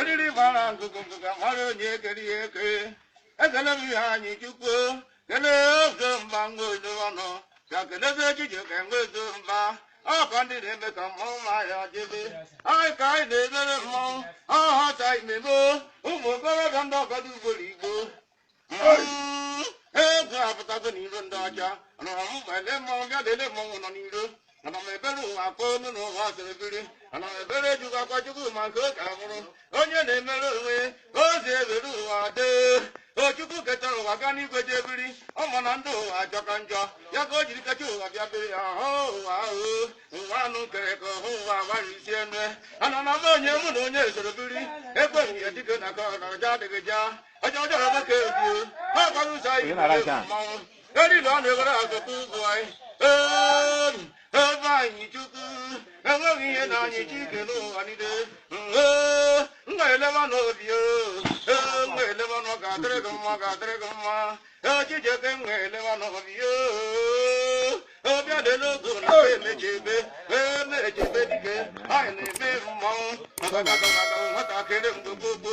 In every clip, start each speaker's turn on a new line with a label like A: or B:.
A: eriri mara ngwugwu ngwugwu amara onye kere ya eke ekele m Iheanyịchukwu Kene oge mba nwa odo ọnụ, ka kelebe Chijioke nwa odo mba. Ọ ka ndị na-eme ka mmanwụ ma ya dịbe. Anyị ka anyị na-emere mmanwụ, ọ họta imeme ụmụ okorobịa ndị ọgọdọ ugboro igbo. Mm, Egwu apụtago n'iro ndị ọcha, nụrụ m mgbe ndị mmanwụ bịa lele mmanwụ nọ n'iro. ana m ebere ụwa akwa olu na ụwa asịrị biri ana m ebere chukwu akwa chukwu ma nke oke a mụrụ onye na-emere onwe ya ozi ebere ụwa dee ọ Chukwu ketara ụwa gaa n'igwe jee biri ọ ma na ndị ụwa ajọka njọ ya ka o jiri kecha ụwa bịa biri ya hụ ụwa ahụ ụwa anụ nkere ka hụ ụwa agbara isi eme ana na m onye mụ na onye soro biri ekwe m ya dike na ka ọ na ọjọ adịghị ja ọjọ ọjọọ nwoke ebie ha gwara ụzọ Onye na-ara ihe a? mmanwụ Eri na ọ na-ewere ọtụtụ ụzọ anyị. Ee, Ifeanyịchukwu, o nweghị ihe na-anyị Chi kele ụwa niile. Ee, m ga-eleba n'obi o. Ee, m ga-eleba na ọ ga-adịrị gị mma, ọ ga-adịrị gị mma. Ee, Chijioke, m ga-eleba n'obi o. Obi adịla ogo na be emechebe, ee, emechebe dike. Anyị na-eme mmanwụ, ọgagagagaga, nwatakịrị mgbe gbogbo.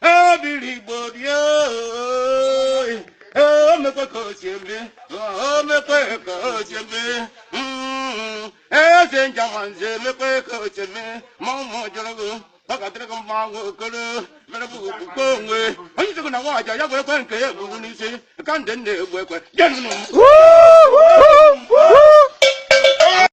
A: ebiri igbo dị oyi o mekwe ka o si eme o mekwe ka o si eme Mm, eze Njemanze emekwe ka o si eme ma ụmụ jụrụ gị ọ ga-adịrị gị mma nwa okoro mere bụ okpukpe onwe onye isi gị na nwaanyị ya bụ ekwe nke ya egburu n'isi ka ndị nna egbu ekwe jenụ m Woo! Woo! Woo!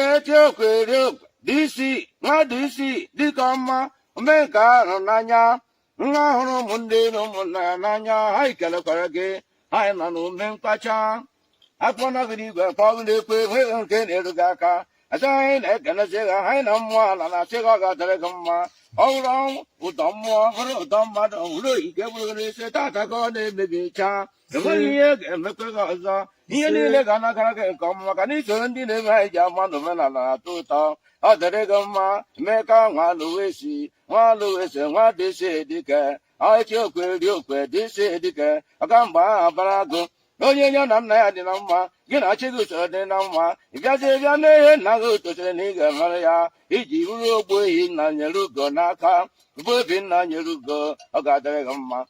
A: echeokwu eriokwu disi nwa disi dịka ọma ome nke a hụrụ n'anya nwa hụrụ ụmụnne na ụmụnna ya n'anya ha ikelekwara gị anyị nọ n'ume mkpacha akpọ nọgide igwe akpọ ọgụ na-ekwe enweghị nke na-eru gị aka agaghị na-ekelezi ha anyị na mmụọ ala na-asị gị ọ ga-adịrị gị mma ọ bụrụ ụdọ mmụọ bụrụ ụdọ mmadụ ọ bụrụ ike bụrụ gị n'isi tata ka ọ na-emebi chaa enweghị ihe ga-emekwa gị ọzọ ihe niile ga na-agara gị nke ọma maka na i so ndị na-eme anyị ji ama na omenala na-atọ ụtọ ọ dịrị gị mma Emeka nwa Alụwesi nwa Alụwesi nwa dịsi dike ọchị okwe ri okwe dịsi dike ọka mgbe ahụ abara gụ onye ya na nna ya dị na mma gị na chi gị esoro dị na mma ị bịazie bịa mee ihe nna gị tosiri na ị ga-emere ya i ji bụrụ Ogbuehi nna nyere ugo n'aka bụ obi nna nyere ugo ọ ga-adịrị gị mma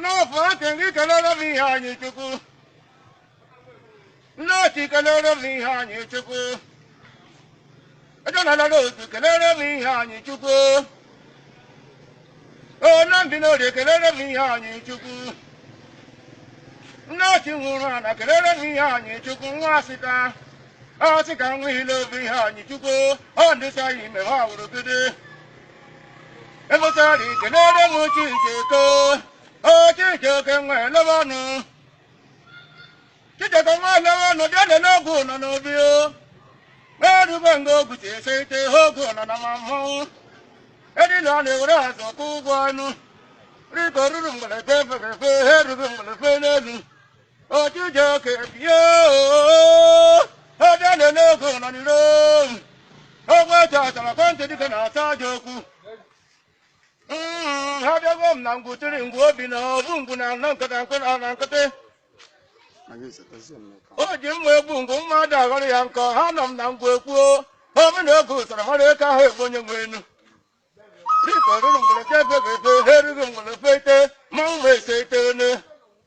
A: N'ọfọ aka gị kelere m Iheanyichukwu nne otu kelere m Iheanyichukwu ejenalala otu kelere m Iheanyichukwu onye bi n'orie kelere m Iheanyichukwu nne otu nwụrụ ana kelere m Iheanyichukwu nwa asịka ọsị ka nwa ile obi Iheanyichukwu ọ ndịcha ya ime ha wụrụ gide emechara ikelere m Chijioke o Chijioke nwa elebe ọnụ Chijioke nwaolewo nọ bịa nene ngwu nọ n'obi o erube nga ogwu ji ese ite ihe ogwu nọ na ma mmọnwụ edina ọ na-ewere azụ kwụ ụgwọ ọnụ dịka oruru mgbere fe fere fe ha erube mgbere fe n'elu o Chijioke bie ọbịa nene ngwu nọ n'iro ogwu eji achara kwentị dịka na-ata aja okwu Mm, abịago m na ngwu tiri ngwu obi na ọ bụ ngwu na-anọ nkịtị o ji mma egbu ngwu mmadụ aghọrọ ya nkọ ha nọ m na ngwu ekwuo obi na oge usoro mara eke ahụ egbu onye nwe enu dịka oruru mgbere ka efebe efe ha erughị mgbere fe ite mmanwụ ma ese ite one